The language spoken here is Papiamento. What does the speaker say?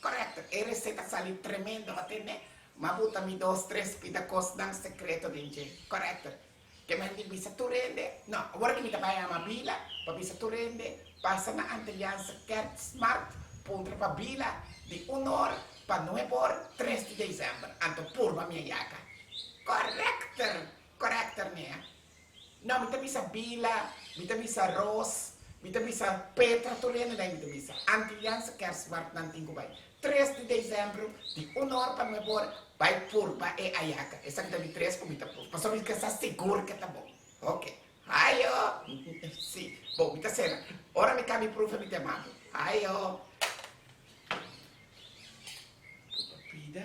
Correcto, e receta sali tremendo hote ne? Ma bu ta mi dos tres pita cosnan secreto den dje. Correcto. Te manda di bisa tur hende, no, awor di mi ta bay ama Bila pa bisa tur hende pasa na Antilliaanse Kerstmarkt puntra pa Bila di un or pa nueb or tres di december. Anto purba mi a yaca. Correcter! Correcter, Nea. Nan mi ta bisa Bila, mi ta bisa Ros, mi ta bisa Petra tur hende dai mi ta bisa. Antilians kersmart nan tin ku bai. Tres di desembro di un or pa nuebe or bai purba e ayaka. Esaki ta di tres ku mi ta purba pasobra mi ka sa sigur ke ta bon. Oke. Hayo! Si. Bon, mi ta sera. Ora mi kami prufe mi ta yama bo. Hayo! Purba pida.